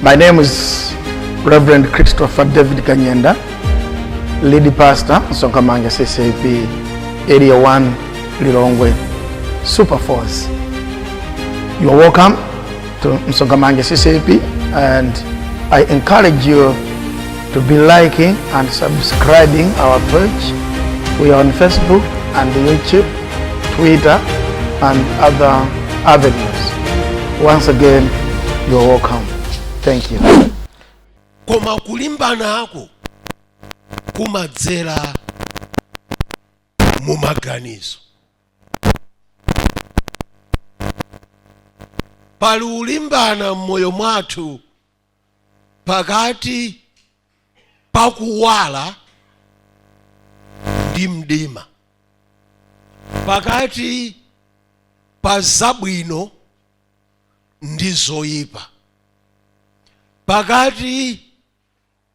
My name is Reverend Christopher David Kanyenda, lead pastor, Sokamanga CCP, Area 1, Lilongwe, Super Force. You are welcome to Msogamange CCP and I encourage you to be liking and subscribing our page. We are on Facebook and YouTube, Twitter, and other avenues. Once again, you are welcome. Thank you. koma kulimbana ako kumadzera mu maganizo pali ulimbana mmoyo mwathu pakati pa kuwala ndi mdima pakati pa zabwino ndi zoyipa pakati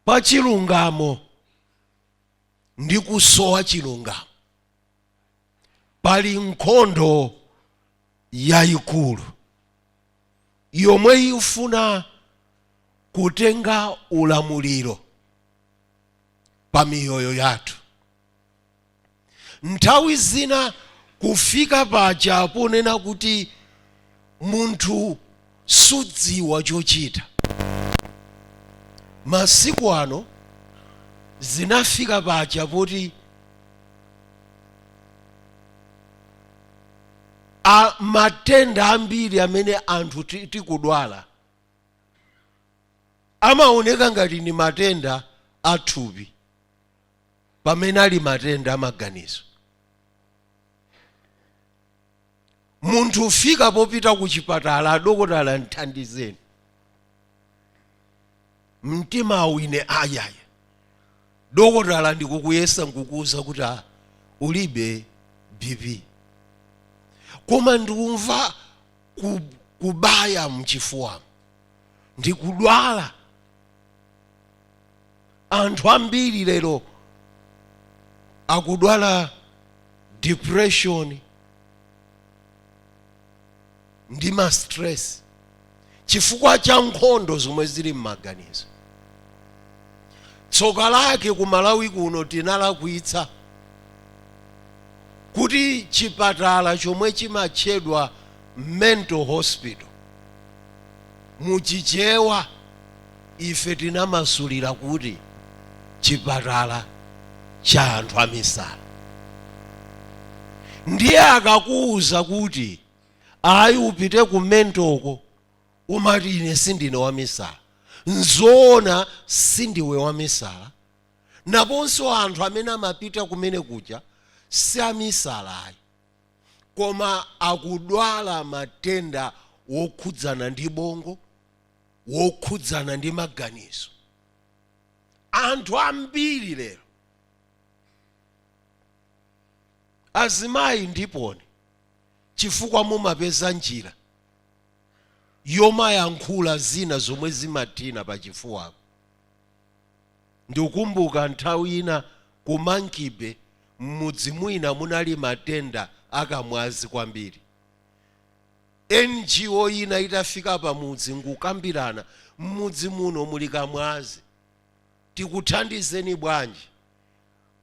pa chilungamo ndi kusowa chilungamo pali nkhondo yayikulu yomwe ifuna kutenga ulamuliro pa miyoyo yathu nthawi zina kufika paja ponena kuti munthu sudziwa chochita masiku ano zinafika paja poti a matenda ambiri amene anthu ti- tikudwala amaoneka ngati ni matenda a thupi pamene ali matenda a maganizo munthu ufika popita ku chipatala adokotala nthandizeni mtimawu ine ayayi dokotala ndikukuyesa nkukuwuza kuti ah, ulibe bp koma ndikumva ku- kubaya mchifuwa ndikudwala anthu ambiri lero akudwala depression ndi ma stress chifukwa cha nkhondo zomwe zili m'maganizo tsoka lake ku malawi kuno tinalakwitsa kuti chipatala chomwe chimatchedwa mental hospital muchichewa ife tinamasulira kuti chipatala cha anthu amisala ndiye akakuwuza kuti ayi upite ku mental uko umati ine sindine wamisala nzoona sindiwe wamisala naponso anthu amene amapita kumene kuja si amisala ayi koma akudwala matenda wokhudzana ndi bongo wokhudzana ndi maganizo anthu ambiri lero azimayi ndiponso chifukwa mumapeza njira yomayankhula zina zomwe zimathina pachifuwako. Ndikukumbuka nthawi ina ku Monkey-Bay m'mudzi mwina munali matenda a kamwazi kwambiri. NGO ina itafika pamudzi n'kukambirana, m'mudzi muno muli kamwazi, tikuthandizeni bwanji?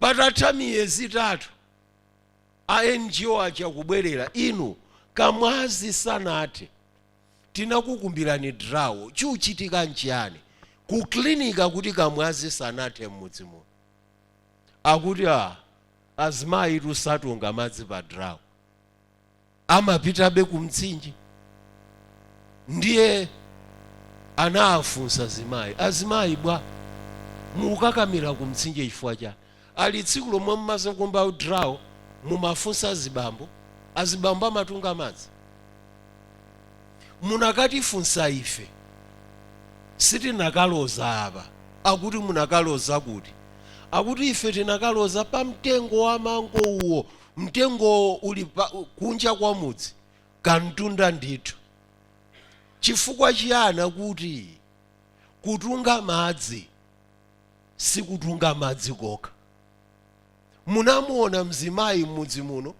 patatha miyezi itatu a NGO aja kubwerera, inu Kamwazi sanathe, tinakukumbirani drawo, chuchitika nchiyani? Ku clinic akuti Kamwazi sanathe m'mudzi muno, akuti aah azimayitu satunga madzi pa drawo. amapitabe ku mtsinje ndiye anawafunsa azimayi azimayi bwa mukukakamira ku mtsinje chifukwa chani ali tsiku lomwe mumadzakumba drawo mumafunsa azibambo azibambo amatunga madzi munakatifunsa ife sitinakaloza apa akuti munakaloza kuti akuti ife tinakaloza pa mtengo wa mango uwo mtengo uli kunja kwa mudzi kamtunda ndithu chifukwa chiyani akuti kutunga madzi sikutunga madzi kokha munamuona mzimayi m'mudzi muno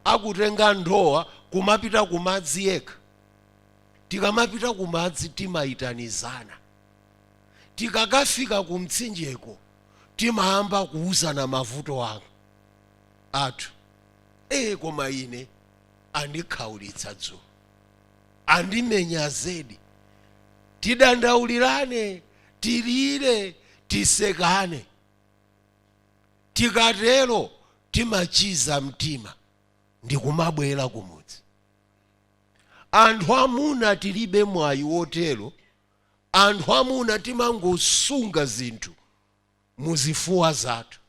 akutenga ndowa kumapita kumadzi yekha tikamapita kumadzi timayitanizana tikakafika kumtsinjeko timayamba kuwuzana mavuto a athu ee koma ine andikhaulitsa dzulo andimenya zedi tidandaulirane tilire tisekane tikatero timachiza mtima ndikumabwera kumudzi anthu amuna tilibe mwayi wotero anthu amuna timangosunga zinthu muzifuwa zathu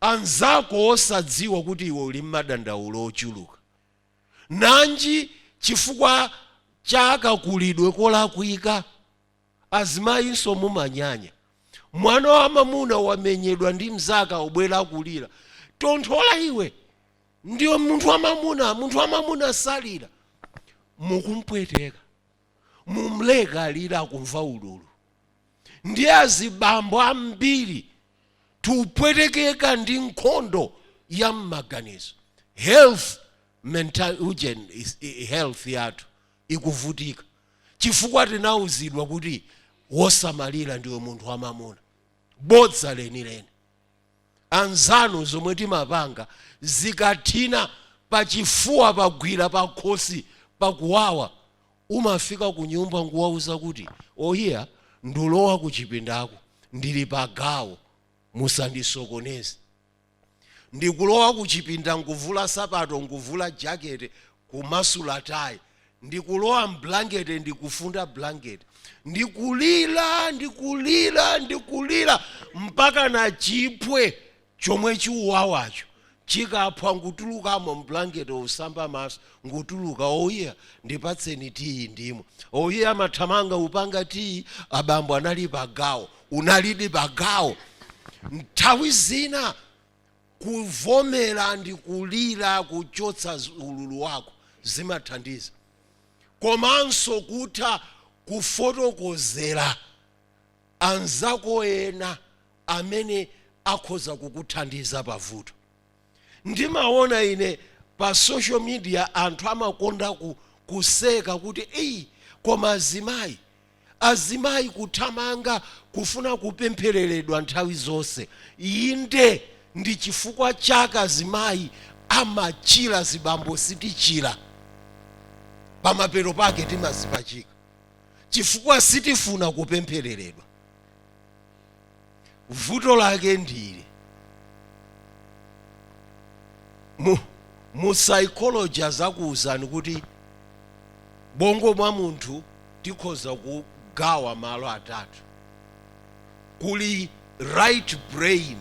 anzako osadziwa kuti iwe uli mmadandaulo ochuluka? Nanji chifukwa cha kakulidwe kolakwika? Azimayinso mumanyanya. Mwana wa mamuna wamenyedwa ndi mzake akubwera akulira. Tonthola iwe! Ndiwe munthu wa mamuna, munthu wa mamuna salira. Mukumpweteka. Mumleke alire akumva ululu. Ndiye azibambo ambiri tupwetekeka ndi nkhondo ya mmaganizo health mental ujeni is- i- i- health yathu ikuvutika chifukwa tinauzidwa kuti wosamalira ndiwe munthu wamamuna bodza lenileni anzanu zomwe timapanga zikathina pachifuwa pagwira pakhosi pakuwawa Umafika kunyumba n'kuwauza kuti, Ohiya, ndulowa kuchipindako, ndili pagawo, musandisokoneze. Ndikulowa kuchipinda n'kuvula sapato, n'kuvula jakete, kumasula tayi. Ndikulowa m'blankete, ndi kufunda blankete. Ndikulira, ndikulira, ndikulira, mpakana chiphwe chomwe chiuwawacho chikaphwa nkutulukamo mblanket usamba maso nkutuluka oiya ndipatseni tiyi ndimwe oiya amathamanga upanga tiyi abambo anali pagawo unalidi pagawo nthawi zina kuvomera ndi kulira kuchotsa ululu wako zimathandiza komanso kutha kufotokozera. anzako ena amene akhoza kukuthandiza pavuto ndimaona ine pa social media anthu amakonda ku, kuseka kuti eyi koma azimayi azimayi kuthamanga kufuna kupemphereredwa nthawi zonse inde ndi chifukwa chake azimayi amachira zibambo sitichira pamapeto pake timazipachika chifukwa sitifuna kupemphereredwa vuto lake ndili mu, mu psychology azakuwuzani kuti bongo bwa munthu tikhoza kugawa malo atatu kuli right brain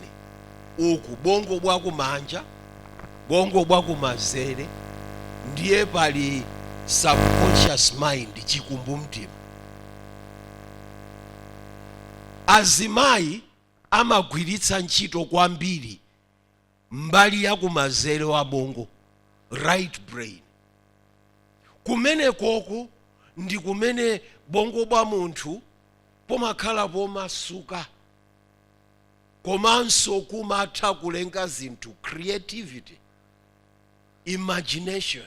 uku bongo bwa kumanja bongo bwa kumanzere ndiye pali subconscious mind chikumbumtima azimayi amagwiritsa ntchito kwambiri mbali ya kumanzere wa bongo right brain kumenekoko ndi kumene bongo bwa munthu bumakhala bomasuka komanso kumatha kulenga zinthu creativity imagination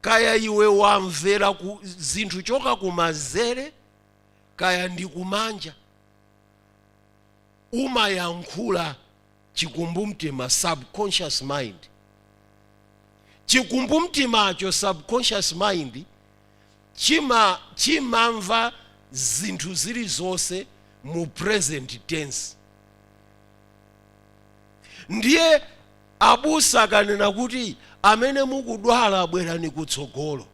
kaya iwe wamvera ku zinthu choka kumanzere kaya ndi kumanja umayankhula chikumbumtima subconscious mind chikumbumtimacho subconscious mind chima chimamva zinthu zilizonse mu present tense ndiye Abusa akanena kuti amene mukudwala bwerani kutsogolo,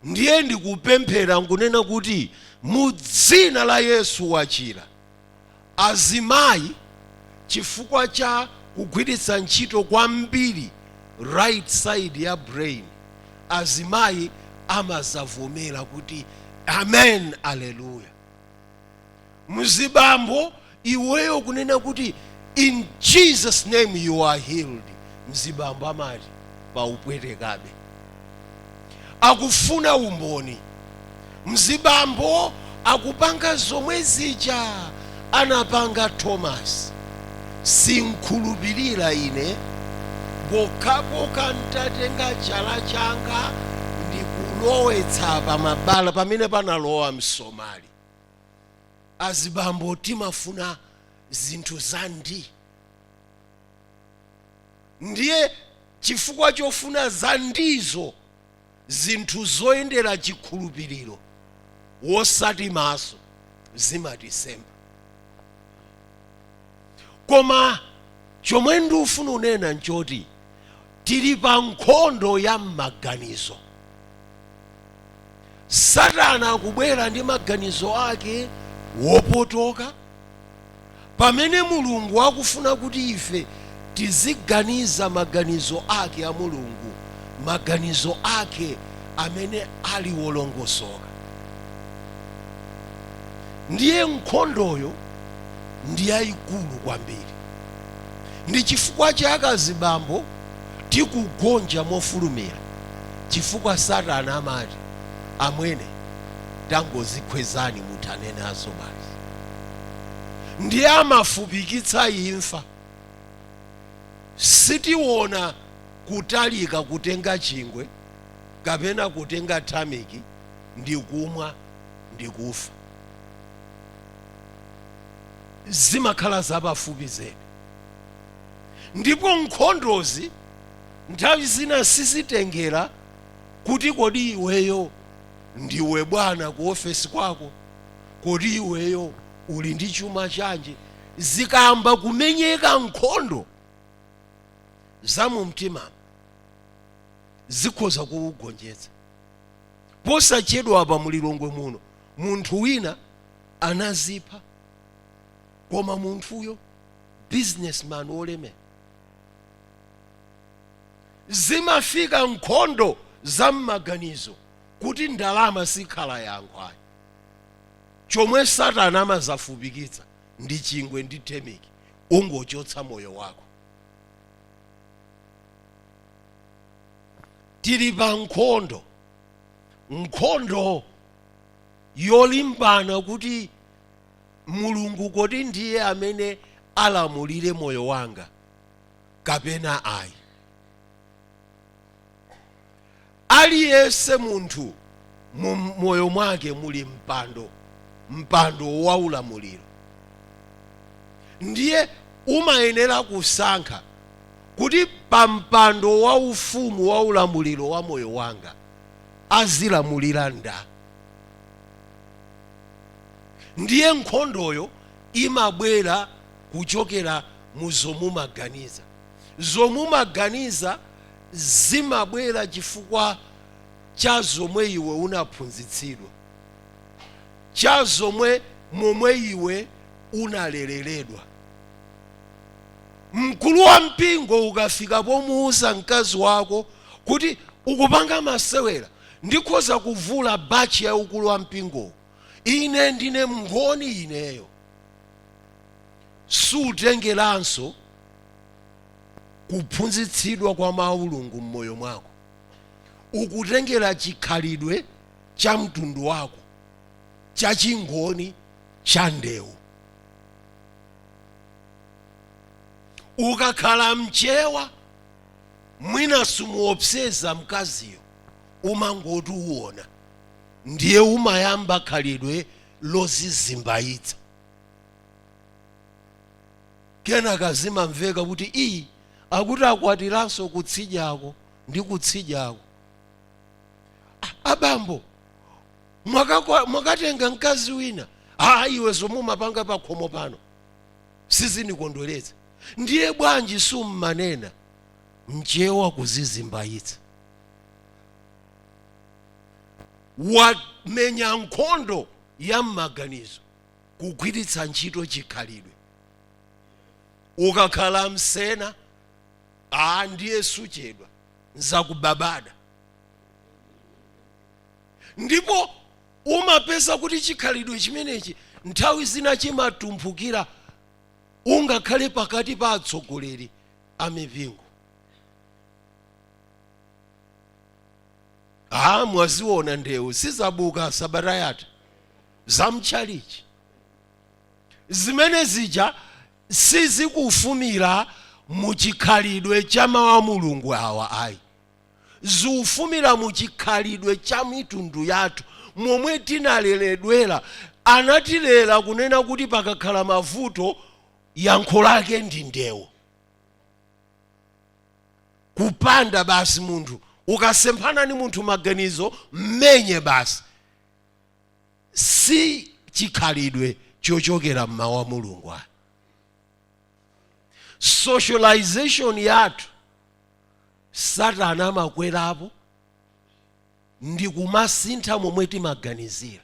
ndiye n'kupemphera n'kunena kuti, Mu dzina la Yesu, wachira. Azimayi chifukwa cha kugwiritsa ntchito kwambiri right side ya brain, azimayi amazavomera kuti, Amen! Aleluya! mzibambo iweyo kunena kuti in jesus name you are healed mzibambo amati paupwetekabe akufuna umboni mzibambo akupanga zomwe zija anapanga thomas sinkhulupirira ine pokhapokha ntatenga chala changa ndikulowetsa pamabala pamene panalowa msomali azibambo timafuna zinthu za ndii ndiye chifukwa chofuna za ndiizo zinthu zoyendera chikhulupiriro wosati maso zimatisemba koma chomwe ndifuna unena nchoti tili pa nkhondo ya m'maganizo satana akubwera ndi maganizo ake wopotoka pamene mulungu akufuna kuti ife tiziganiza maganizo ake a mulungu maganizo ake amene ali wolongosoka ndiye nkhondoyo ndi yayikulu kwambiri. Ndi chifukwa chake azibambo tikugonja mofulumira chifukwa satana amati amwene tangozikhwezani muthane nazo basi. Ndiye amafupikitsa imfa. Sitiona kutalika kutenga chingwe kapena kutenga tameki ndikumwa ndikufa. zimakhala zapafupi zedi ndipo nkhondozi nthawi zina sizitengera kuti kodi iweyo ndiwe bwana ku ofesi kwako kodi iweyo uli ndi chuma chanji zikayamba kumenyeka nkhondo za mu mtima zikhoza kukugonjetsa posachedwa apa mulilongwe muno munthu wina anazipha koma munthuyo businessman wolemera zimafika nkhondo za m'maganizo kuti ndalama sikhala yankho ayi chomwe satana amadzafupikitsa ndi chingwe ndi temiki ungochotsa moyo wako tili pa nkhondo nkhondo yolimbana kuti Mulungu kodi ndiye amene alamulire moyo wanga kapena ayi. Aliyense munthu mu moyo mwake muli mpando, mpando wa ulamuliro, ndiye umayenera kusankha kuti pa mpando wa ufumu wa ulamuliro wa moyo wanga azilamulira nda ndiye nkhondoyo imabwera kuchokera mu zomumaganiza zomumaganiza zimabwera chifukwa cha zomwe iwe unaphunzitsidwa cha zomwe, momwe iwe unalereredwa Mkulu wa mpingo ukafika pomuuza mkazi wako kuti ukupanga masewera, ndikhoza kuvula baji ya ukulu wa mpingowo. Ine ndine mngoni ineyo. Sukutengeranso kuphunzitsidwa kwa mawu a Mulungu mmoyo mwako. Ukutengera chikhalidwe cha mtundu wako cha chingoni cha ndewu. ukakhala mchewa mwina sumuopseza mkaziyo umangoti uwona ndiye umayamba khalidwe lozizimbayitsa kenaka zimamveka kuti iyi akuti akwatiranso kutsidyako ndi kutsidyako abambo mwakatenga mkazi wina aa iwe zomwe umapanga pakhomo pano sizindikondweretsa ndiye bwanji summanena mchewa kuzizimbayitsa wamenya nkhondo ya m'maganizo kugwiritsa ntchito chikhalidwe ukakhala msena aa ndiye suchedwa nzakupabada ndipo Umapeza kuti chikhalidwe chimenechi nthawi zina chimatumphukira ungakhale pakati pa atsogoleri a mipingo. Ha, mwaziona ndewu sizabuka sabata yatha za mtchalitchi zimene zija sizikufumira mu chikhalidwe cha mawu a Mulungu awa ayi. Zikufumira mu chikhalidwe cha mitundu yathu, momwe tinaleredwera. Anatilera kunena kuti pakakhala mavuto, yankho lake ndi ndewu. Kupanda basi munthu. Ukasemphana ndi munthu maganizo, m'menye basi. Si chikhalidwe chochokera m'Mawu a Mulungu ayi. Socialization yathu Satana amakwerapo ndi kumasintha momwe timaganizira.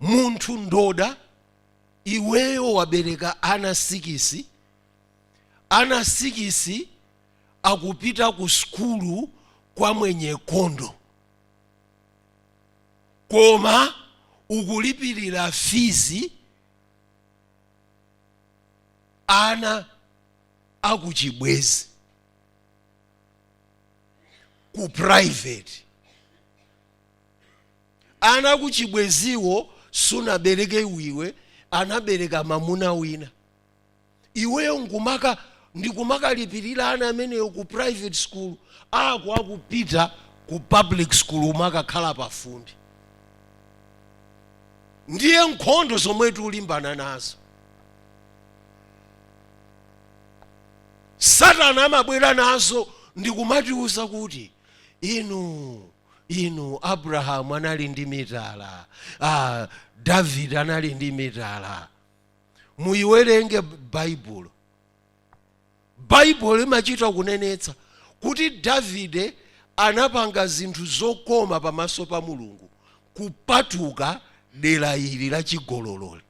Munthu ndoda, iweyo wabereka ana sikisi, ana sikisi akupita ku sukulu kwa Mwenyekondo, koma ukulipirira fizi ana akuchibwezi ku private ana akuchibweziwo sunabereke iwe anabereka mamuna wina iweyo nkumaka ndikumakalipirira ana ameneyo ku private school ako akupita ku public school omwe amakakhala pafumbi ndiye nkhondo zomwe tikulimbana nazo satana amabwera nazo ndikumatiuza kuti inu inu abrahamu anali ndi mitala ah, davide anali ndi mitala muyiwerenge baibulo baibulo imachita kunenetsa kuti davide anapanga zinthu zokoma pamaso pa mulungu kupatuka dera ili la chigololoi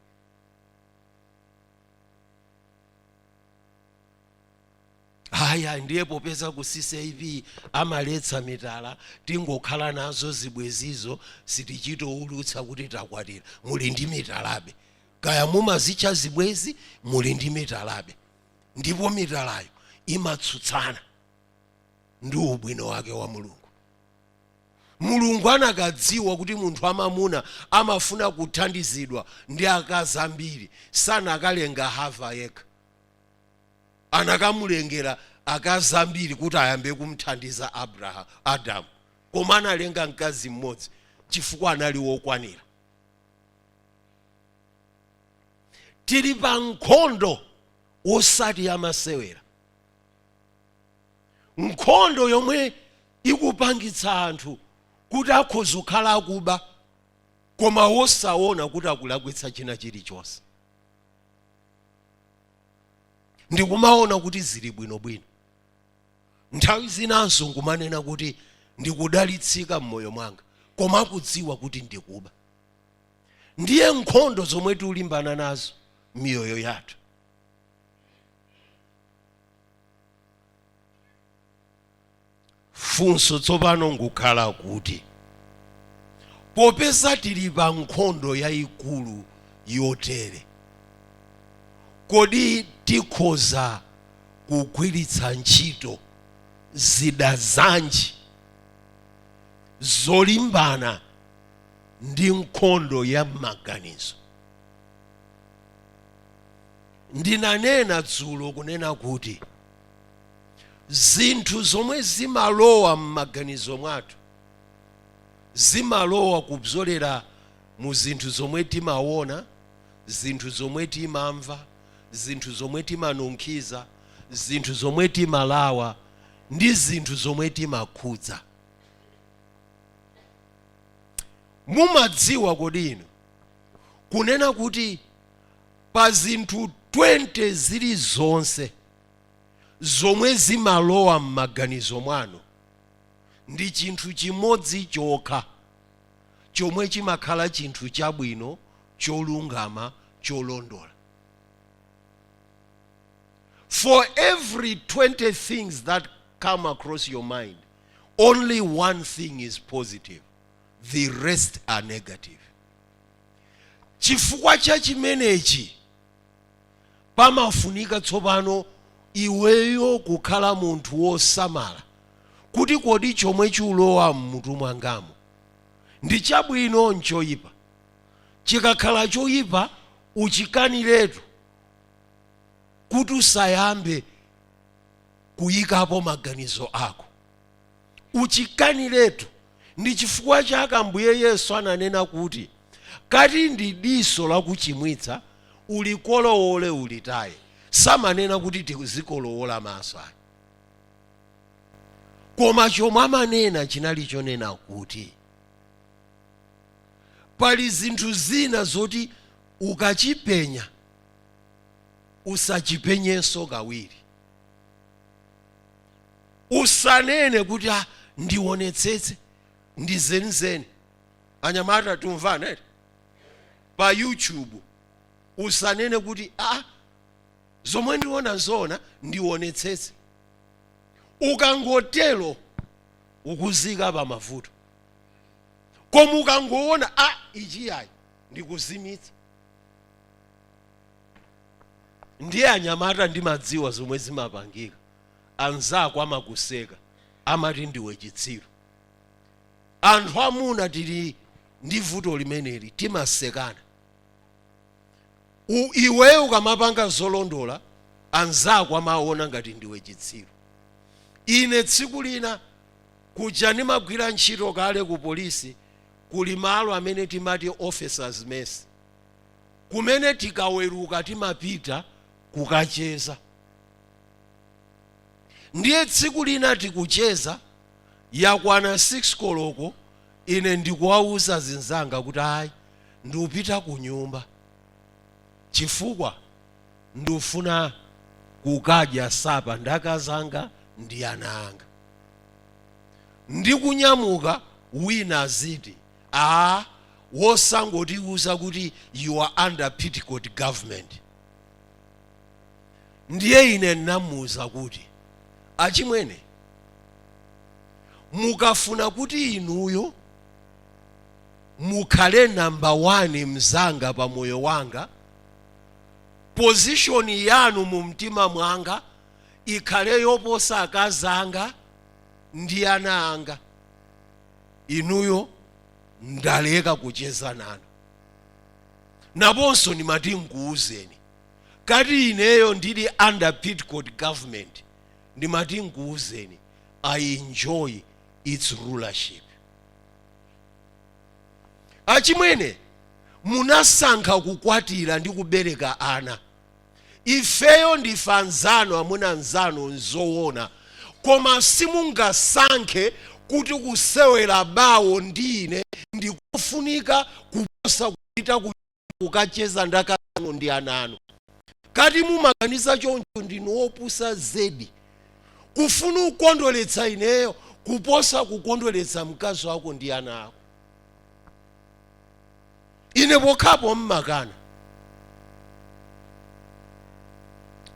haya ndiye popeza ku ccap amaletsa mitala tingokhala nazo zibwezizo sitichitoulutsa kuti takwatira muli ndi mitalabe kaya mumazitcha zibwezi muli ndi mitalabe ndipo mitalayo imatsutsana ndi ubwino wake wa mulungu Mulungu anakadziwa kuti munthu wamamuna amafuna kuthandizidwa ndi akazi ambiri, sanakalenga Hava yekha. Anakamulengera akazi ambiri kuti ayambe kumthandiza Abraha, Adamu. Koma analenga mkazi mmodzi chifukwa anali wokwanira. Tili pa nkhondo wosati yamasewera. nkhondo yomwe ikupangitsa anthu kuti akhoza kukhala akuba koma wosaona kuti akulakwitsa china chilichonse ndikumaona kuti zili bwinobwino nthawi zinanso nkumanena kuti ndikudalitsika m'moyo mwanga koma akudziwa kuti ndikuba ndiye nkhondo zomwe tikulimbana nazo miyoyo yathu funso tsopano nkukhala kuti popeza tili pa nkhondo yayikulu yotere kodi tikhoza kugwiritsa ntchito zida zanji zolimbana ndi nkhondo ya m'maganizo Ndinanena dzulo kunena kuti zinthu zomwe zimalowa m'maganizo mwathu zimalowa kudzolera mu zinthu zomwe timawona, zinthu zomwe timamva, zinthu zomwe timanunkhiza, zinthu zomwe timalawa ndi zinthu zomwe timakhudza. Mumadziwa kodi inu kunena kuti pa zinthu 20 zilizonse zomwe zimalowa m'maganizo mwanu, ndi chinthu chimodzi chokha chomwe chimakhala chinthu chabwino, cholungama, cholondola. For every 20 things that come across your mind, only one thing is positive, the rest are negative. Chifukwa cha chimenechi, pamafunika tsopano iweyo kukhala munthu wosamala kuti kodi chomwe chulowa m'mutu mwangamo ndi chabwino nchoyipa. Chikakhala choyipa uchikaniretu kuti usayambe kuyikapo maganizo ako. Uchikaniretu. Ndi chifukwa chake Ambuye Yesu ananena kuti, Ngati ndi diso lakuchimwitsa, ulikolowole ulitaye. Samanena kuti tizikolowola maso ayi. Koma chomwe amanena chinali chonena kuti, pali zinthu zina zoti ukachipenya, usachipenyenso kawiri. usanene kuti ah, ndionetsetse ndi zenizeni anyamata tumvana eti pa youtube usanene kuti ah, zomwe ndiona zoona ndionetsetse ukangotelo ukudziika pa mavuto koma ukangoona a ah, ichi ayi ndikuzimitsa ndiye anyamata ndimadziwa zomwe zimapangika anzako amakuseka amati ndiwe chitsiru anthu amuna tili ndi vuto limeneli timasekana U- iweyo ukamapanga zolondola anzako amaona ngati ndiwe chitsiru ine tsiku lina kuja ndimagwira ntchito kale ku polisi kuli malo amene timati officers mess kumene tikaweruka timapita kukacheza Ndiye tsiku lina tikucheza, yakwana 6 koloko ine ndikuwauza azinzanga kuti ayi ndupita kunyumba chifukwa ndufuna kukadya sapa ndi akazanga ndi ana anga. Ndikunyamuka wina aziti aah wosangotiuza kuti you are under petticoat government. ndiye ine ndinamuuza kuti achimwene mukafuna kuti inuyo mukhale namba 1 mzanga pa moyo wanga pozishoni yanu mu mtima mwanga ikhale yoposa akazi anga ndi ana anga inuyo ndaleka kucheza nanu panonso ndimati nkuuzeni kati ineyo ndili under petticoat government ndimati nkuuzeni i enjoy its rulership achimwene munasankha kukwatira ndi kubereka ana ifeyo ndife anzanu amuna anzanu nzowona koma simungasankhe kuti kusewera bawo ndi ine ndikofunika kuposa kupita ku kukacheza ndi akazi anu ndi ana anu kati mumaganiza choncho ndinu wopusa zedi kufuna kukondweretsa ineyo kuposa kukondweretsa mkazi wako ndi ana ako ine pokhapo mmakana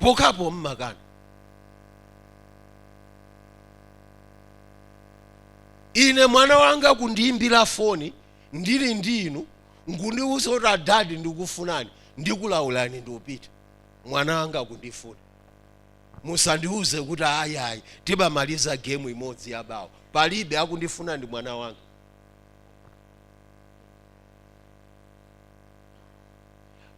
pokhapo mmakana ine mwana wanga kundiyimbira foni ndili ndi inu nkundiuza kuti adadi ndikufunani ndikulaulani ndiupita mwana wanga akundifuna musandiuze kuti ayayi tibamaliza gemu imodzi yabawo palibe akundifuna ndi mwana wanga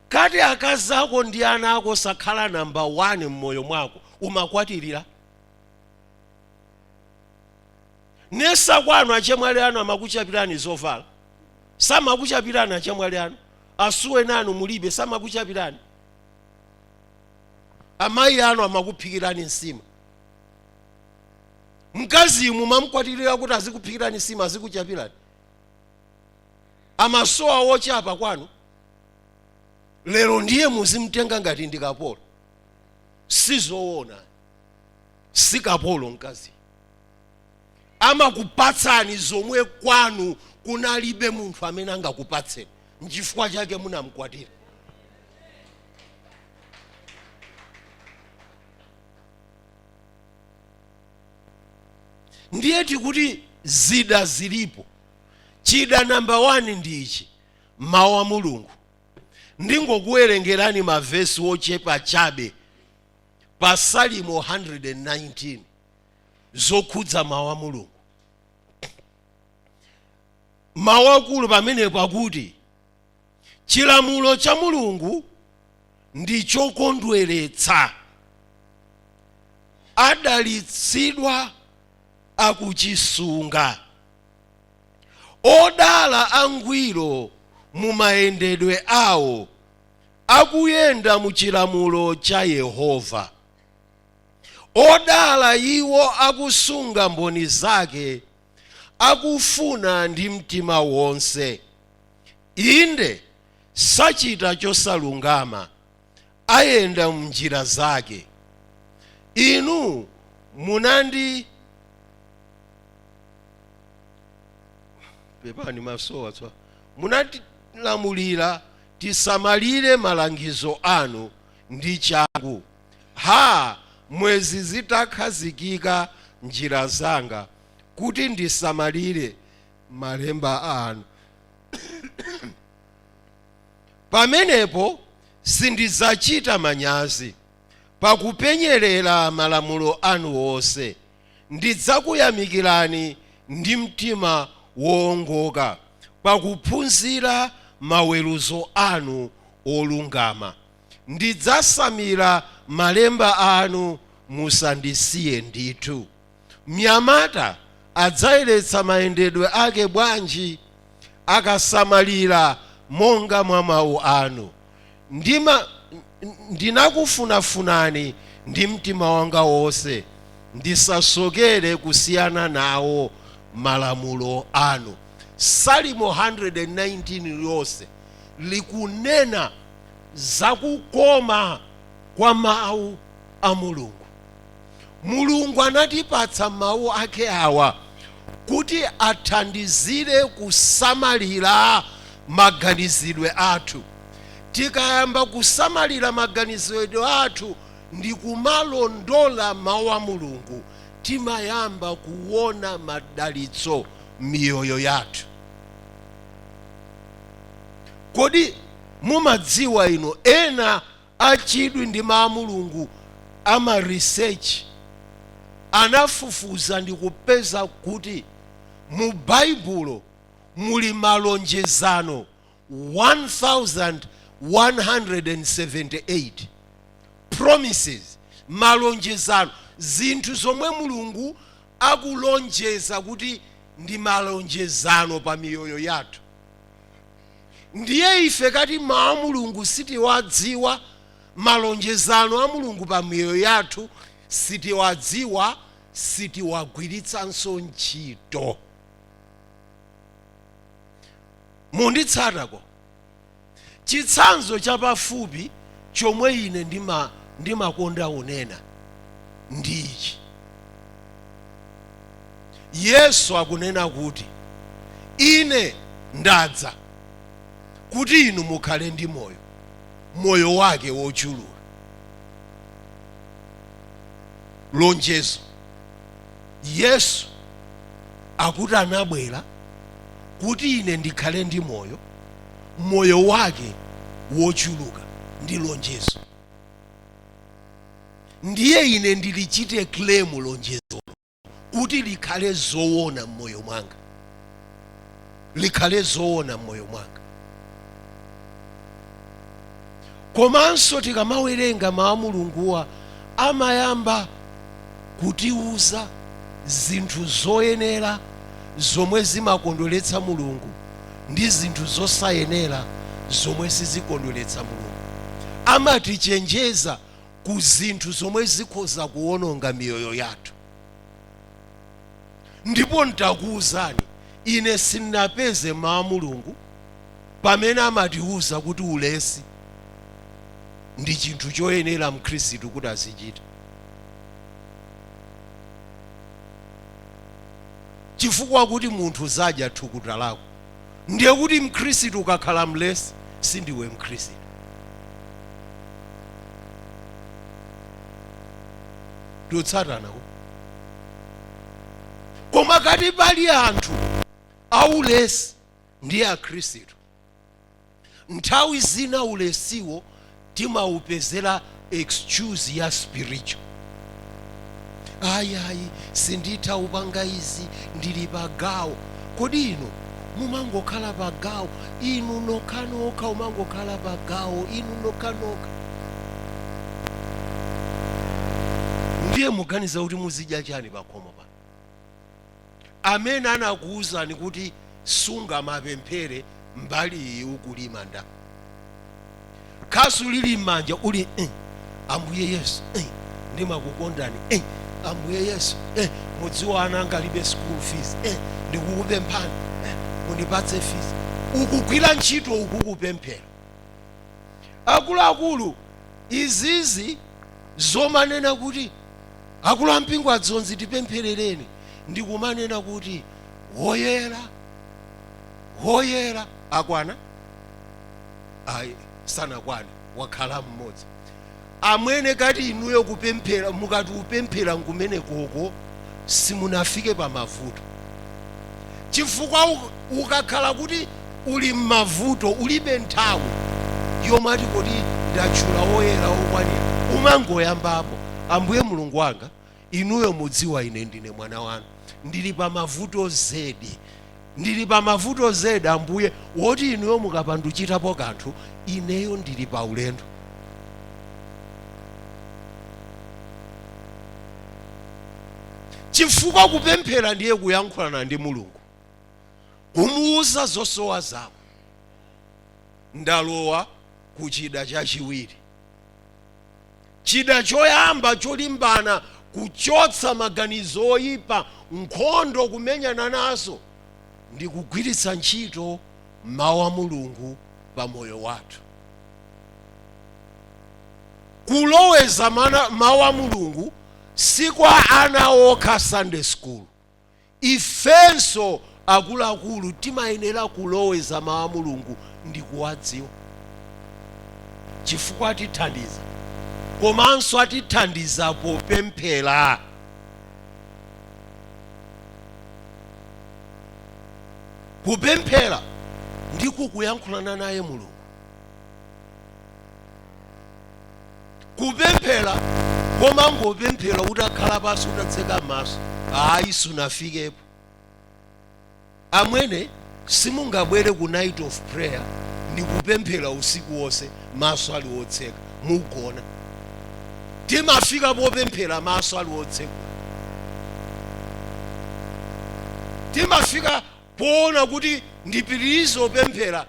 kati akazi ako ndi ana ako sakhala namba 1 mmoyo mwako umakwatirira Nesa kwanu achemwali anu amakuchapirani zovala? Samakuchapirani achemwali anu? Asuweni anu mulibe? Samakuchapirani? Amayi anu amakuphikirani nsima? Mkazi mumamkwatirira kuti azikuphikirani nsima, azikuchapirani? Amasowa wochapa kwanu? Lero ndiye muzimtenga ngati ndi kapolo? Sizowona, si kapolo mkazi. amakupatsani zomwe kwanu kunalibe munthu amene angakupatseni nchifukwa chake munamkwatira ndiye tikuti zida zilipo chida namba wani ndi ichi mawu a mulungu ndingokuwerengerani mavesi ochepa chabe pa salimo 119 zokhudza mawu a mulungu mawu akulu pamenepo akuti chilamulo cha mulungu ndi chokondweretsa adalitsidwa akuchisunga odala angwiro mu mayendedwe awo akuyenda mu chilamulo cha yehova Odala iwo akusunga mboni zake, akufuna ndi mtima wonse, inde, sachita chosalungama, ayenda m'njira zake. Inu munandi. pepani maso awa munatilamulira tisamalire malangizo anu ndi changu. Ha! Mwenzi zitakhazikika njira zanga kuti ndisamalire malemba anu. Pamenepo sindidzachita manyazi, pakupenyerera malamulo anu onse. Ndidzakuyamikirani ndi mtima woongoka, pakuphunzira maweruzo anu olungama. Ndidzasamira malemba anu musandisiye ndithu. Mnyamata adzayeretsa mayendedwe ake bwanji? Akasamalira monga mwa mawu anu. Ndinakufunafunani ndi mtima wanga wonse, ndisasokere kusiyana nawo malamulo anu. Salimo 119 lonse likunena za kukoma kwa Mawu a Mulungu. Mulungu anatipatsa Mawu ake awa kuti athandizire kusamalira maganizidwe athu. Tikayamba kusamalira maganizidwe athu ndi kumalondola Mawu a Mulungu, timayamba kuwona madalitso m'miyoyo yathu. Kodi mumadziwa ino ena achidwi ndi mawu a Mulungu ama research anafufuza ndi kupeza kuti mu Baibulo muli malonjezano 1178 promises malonjezano zinthu zomwe Mulungu akulonjeza kuti ndi malonjezano pa miyoyo yathu. Ndiye ife kati Mawu a Mulungu sitiwadziwa, malonjezano a Mulungu pa miyoyo yathu sitiwadziwa, sitiwagwiritsanso ntchito. Munditsatako? Chitsanzo chapafupi chomwe ine ndima, ndimakonda unena ndi ichi. Yesu akunena kuti, Ine ndadza kuti inu mukhale ndi moyo, moyo wake wochuluka. Lonjezo. Yesu akuti anabwera kuti ine ndikhale ndi moyo, moyo wake wochuluka. Ndi lonjezo. Ndiye ine ndilichite claim lonjezolo. kuti likhale zoona mmoyo mwanga likhale zoona mmoyo mwanga komanso tikamawerenga mawu a mulunguwa amayamba kutiuza zinthu zoyenera zomwe zimakondweretsa mulungu ndi zinthu zosayenera zomwe sizikondweretsa mulungu amatichenjeza ku zinthu zomwe zikhoza kuwononga miyoyo yathu ndipo ntakuwuzani ine sinapeze mawu a mulungu pamene amatiwuza kuti ulesi ndi chinthu choyenera mkhristu kuti azichita chifukwa kuti munthu uzadya thukuta lako ndiye kuti mkhristu ukakhala mlesi sindiwe mkhristu tikutsatanako koma ngati pali anthu aulesi ndiye akhristu Nthawi zina ulesiwo timaupezera excuse ya spiritual. Ayi ayi sinditha upanga izi ndili pa gawo. Kodi inu mumangokhala pa gawo inu nokhanokha mumangokhala pa gawo inu nokhanokha. Ndiye muganiza kuti muzidya chani pakhomo pano? amene anakuwuzani kuti sungamapemphere mbali iyi ukulima ndani khasu lili m'manja uli eh, ambuye yesu eh, ndimakukondani eh, ambuye yesu eh, mudziwa ana anga alibe school fees eh, ndikukupemphani eh, mundipatse fees ukugwira ntchito uku ukupemphera akuluakulu izizi zomanena kuti Akulu ampingo a Dzonzi tipempherereni ndi kumanena kuti woyera woyera. Akwana? Ayi sanakwane wakhala mmodzi. Amwene ngati inuyo kupemphera mukati kupemphera nkumeneko simunafike pamavuto chifukwa. Ukakhala kuti uli m'mavuto, ulibe nthawi yomati kodi ndatchula woyera wokwanira. Umangoyambapo, Ambuye Mulungu wanga, Inuyo mudziwa ine ndine mwana wanu. Ndili pamavuto zedi. Ndili pamavuto zedi, Ambuye, woti Inuyo mukapanda kuchitapo kanthu, ineyo ndili paulendo. Chifukwa kupemphera ndiye kuyankhulana ndi Mulungu. kumuuza zosowa zako ndalowa ku chida chachiwiri chida choyamba cholimbana kuchotsa maganizo oyipa nkhondo kumenyana nazo ndi kugwiritsa ntchito mawu a mulungu pa moyo wathu kuloweza mana- mawu a mulungu si kwa ana okha sunday school Ifenso akuluakulu timayenera kuloweza mawu a Mulungu ndikuwadziwa chifukwa atithandiza komanso atithandiza popemphera. Kupemphera ndiko kuyankhulana naye Mulungu. kupemphera kumangopemphera utakhala pansi utatseka maso ayi sunafikepo amwene simungabwere ku night of prayer n'kupemphera usiku wonse maso ali otseka mugona timafika popemphera maso ali otseka timafika poona kuti ndipitirize kupemphera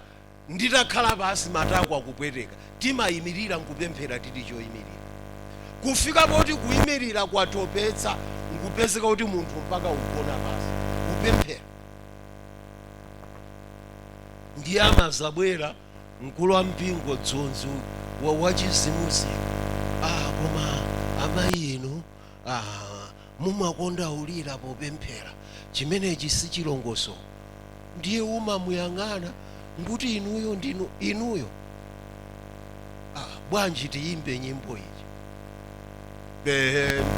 Nditakhala pansi, matako akupweteka, timayimirira n'kupemphera tili choyimirira. Kufika poti kuyimirira kwatopetsa n'kupezeka kuti munthu mpaka ugona pansi kupemphera. Ndiye amazabwera mkulu wa mpingo, Dzonzi uyu, wachizimuzimu, Aaa koma amayi inu. ah, mumakonda ulira popemphera chimenechi si chilongosoko ndiye umamuyang'ana nkuti inuyo ndinu inuyo ah, bwanji tiyimbe nyimbo iyi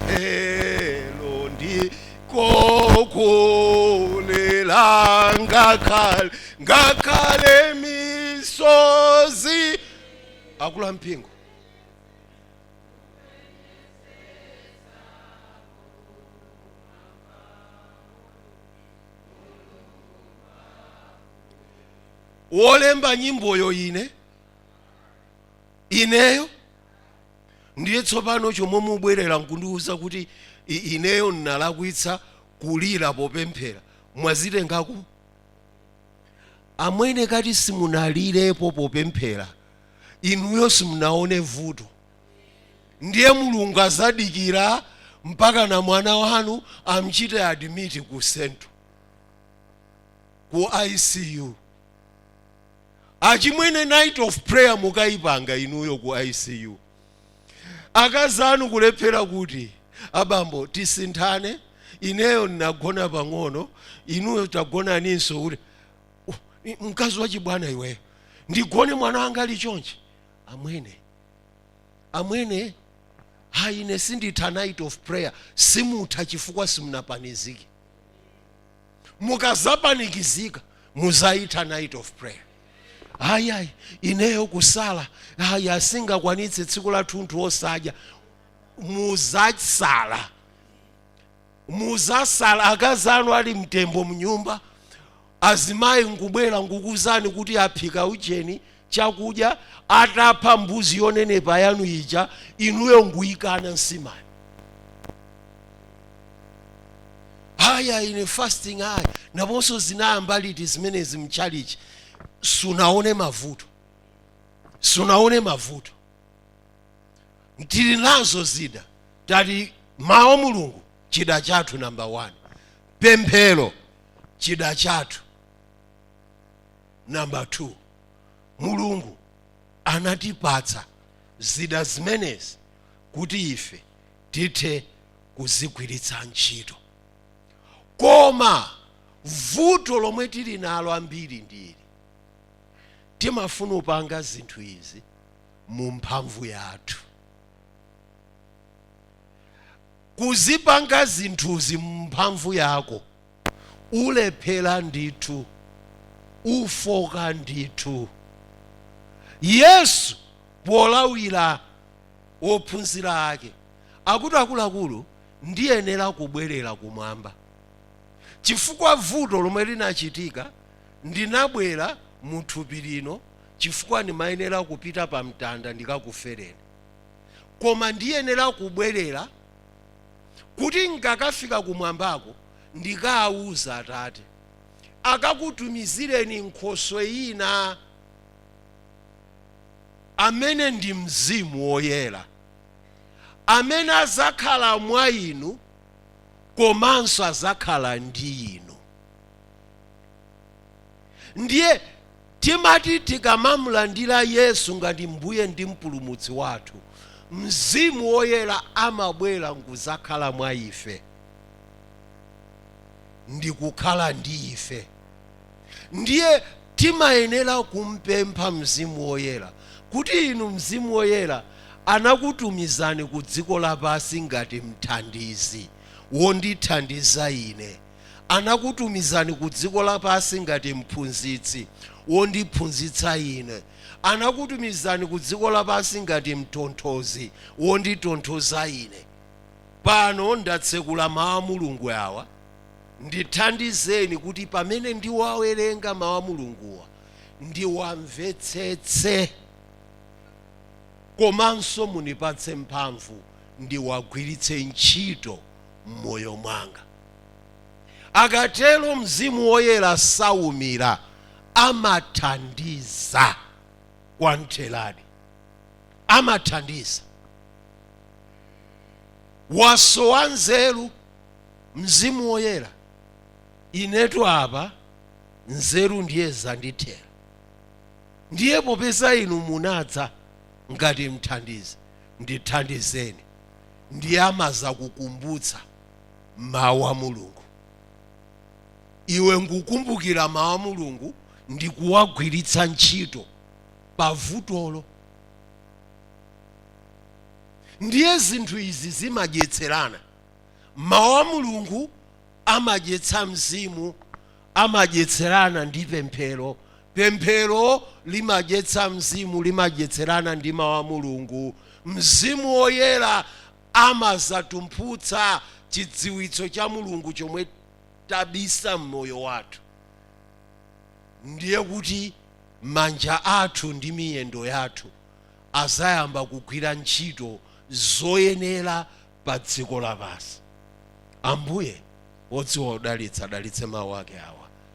pemphero ndiko kulira ngakhale ngakhale misozi akulu ampingo wolemba nyimboyo ine ineyo ndiye tsopano chomwe mubwerera nkundiwuza kuti i- ineyo ndinalakwitsa kulira popemphera mwazitenga kuti amwene kati simunalirepo popemphera inuyo simunaone vuto ndiye mulungu azadikira mpaka na mwana wanu amchite admit ku central ku icu achimwene night of prayer mukayipanga inuyo ku icu akazi anu kulephera kuti abambo tisinthane ineyo ndinagona pang'ono inuyo tagonaninso kuti mkazi wachibwana iweyo ndigone mwana wanga ali chonchi amwene amwene hayi ine sinditha night of prayer simutha chifukwa simunapanizike mukazapanikizika muzayitha night of prayer hayi hayi ineyo kusala hayi sindingakwanitse tsiku lathunthu osadya muzasala muzasala akazi anu ali mtembo mnyumba azimayi nkubwera nkukuuzani kuti aphika ujeni chakudya atapha mbuzi yonenepa yanu ija inuyo nkuyikana nsimayo hayi ine fasting hayi naponso zinayamba liti zimenezi mchalichi sunaone mavuto sunaone mavuto tili nazo zida tati mawu a mulungu chida chathu namba 1 pemphero chida chathu namba 2 mulungu anatipatsa zida zimenezi kuti ife tithe kuzigwiritsa ntchito koma vuto lomwe tili nalo ambiri ndili timafuna kupanga zinthu izi mu mphamvu yathu kuzipanga zinthuzi mu mphamvu yako ulephera ndithu ufoka ndithu yesu polawira ophunzira ake akuti akuluakulu ndiyenera kubwerera kumwamba chifukwa vuto lomwe linachitika ndinabwera mu thupi lino chifukwa ndimayenera kupita pa mtanda ndikakufereni. Koma ndiyenera kubwerera kuti n'kakafika kumwambako ndikawuza Atate, akakutumizireni Nkhoswe ina, amene ndi Mzimu Woyera, amene adzakhala mwa inu komanso adzakhala ndi inu. Ndiye Timati tikamamulandira Yesu ngati Mbuye ndi Mpulumutsi wathu, Mzimu Woyera amabwera nkudzakhala mwa ife ndikukhala ndi ife. Ndiye timayenera kumpempha Mzimu Woyera kuti, Inu Mzimu Woyera, anakutumizani kudziko lapansi ngati mthandizi wondithandiza ine. anakutumizani ku dziko lapansi ngati mphunzitsi wondiphunzitsa ine, anakutumizani ku dziko lapansi ngati mtonthozi wonditonthoza ine. Pano ndatsekula Mawu a Mulungu awa, ndithandizeni kuti pamene ndiwawerenga Mawu a Mulunguwa ndiwamvetsetse, komanso munipatse mphamvu ndiwagwiritse ntchito m'moyo mwanga. Ukatero Mzimu Woyera saumira, amathandiza kwamtheradi. Amathandiza. Wasowa nzeru, Mzimu Woyera. Inetu apa nzeru ndiye zandithera. Ndiye popeza inu munadza ngati mthandizi, ndithandizeni. Ndiye amadzakukumbutsa. mawu a mulungu iwe nkukumbukira mawu a mulungu ndi kuwagwiritsa ntchito pavutolo ndiye zinthu izi zimadyetserana mawu a mulungu amadyetsa mzimu amadyetserana ndi pemphero pemphero limadyetsa mzimu limadyetserana ndi mawu a mulungu mzimu woyera amadzatumphutsa chidziwitso cha Mulungu chomwe tabisa mmoyo wathu. Ndiye kuti manja athu ndi miyendo yathu adzayamba kugwira ntchito zoyenera pa dziko lapansi. Ambuye wodziwa kudalitsa adalitse mawu ake awa.